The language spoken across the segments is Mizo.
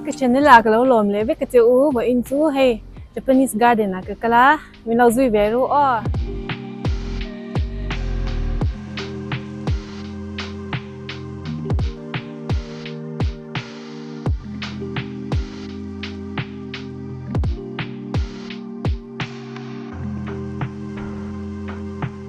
Ka channel ah ka lo lawm leh vek ka che u, vawh in chu hei Japanese garden ah ka kal a, min lo zui ve ru aw.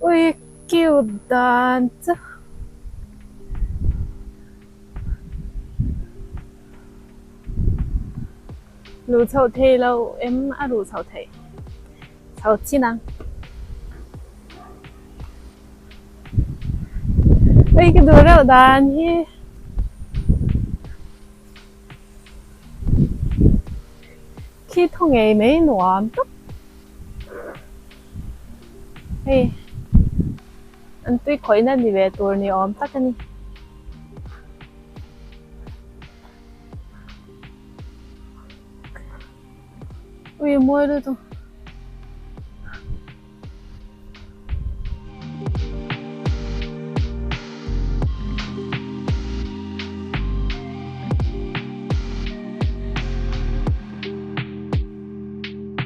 Ui cute dan chu. Lu chho thei lo em a lu chho thei. Chho chin ang. Ui ka du reuh dan hi. Khi thu ngei mai nuam tak. Hei, an tui khawihna ni ve tur ni awm tak a ni. Ui mawi lut a.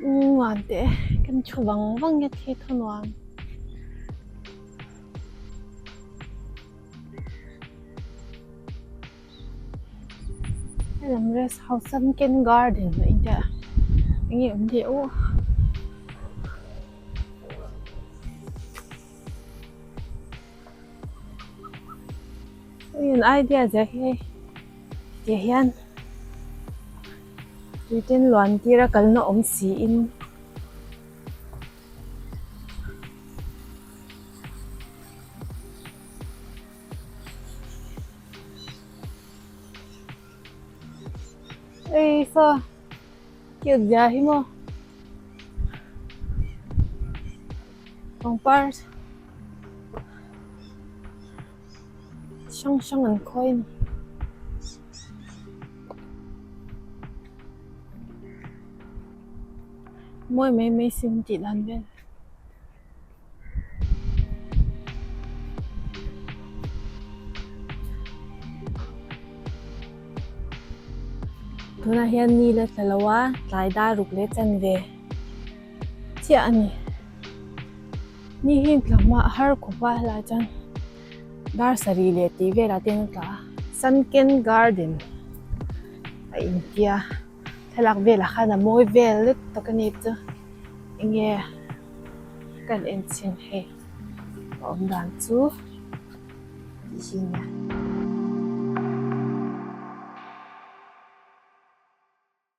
Nuam te kan thu vang vang nge thi thu nuam. Hello rest house sunken garden lo in te. Nge um de u. Eng idea zia hi tih hian tuitin luan tir a kalna awm si in ei saw cute zia hi maw. Pangpar hrang hrang an khawi a ni. Mawi mai mai si an tih dan vel. Tunah hian ni la tla lo a, tlai dar ruk leh chan ve. chiah a ni. Ni hi tla hma har khawpa lah chuan dar sarih leh tih velah te an tla a. Sunken Garden a intia thlalak velah khan a mawi vel let tak a ni chu enge kan enchhin hei a awm dan chu tih hi a nia.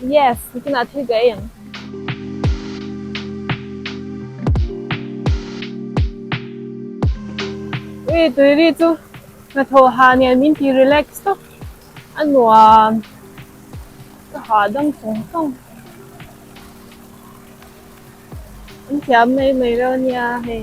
Yes, bikinah thil ka en. Ui Tuiri chu hnathawh ha nen min ti relax tawk a nuam. Ka ha dang sawng sawng. An thiam mai mai rau nia hei.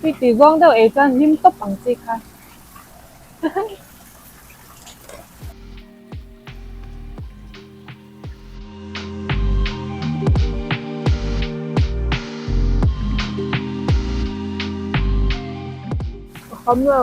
Tui ti zawng deuh ei chuan hlim tawp ang chi kha. Ka kham lo.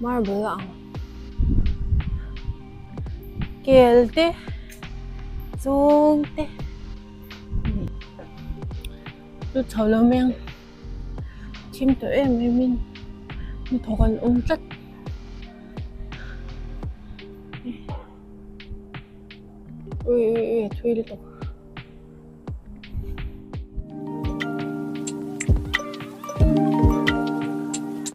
Marble a ang. Kel te, chûng te ni. Chu chho lo mai ang. Thim tawh em em in hmu thawk an awm tlat. Ui ui ui a thui lutuk.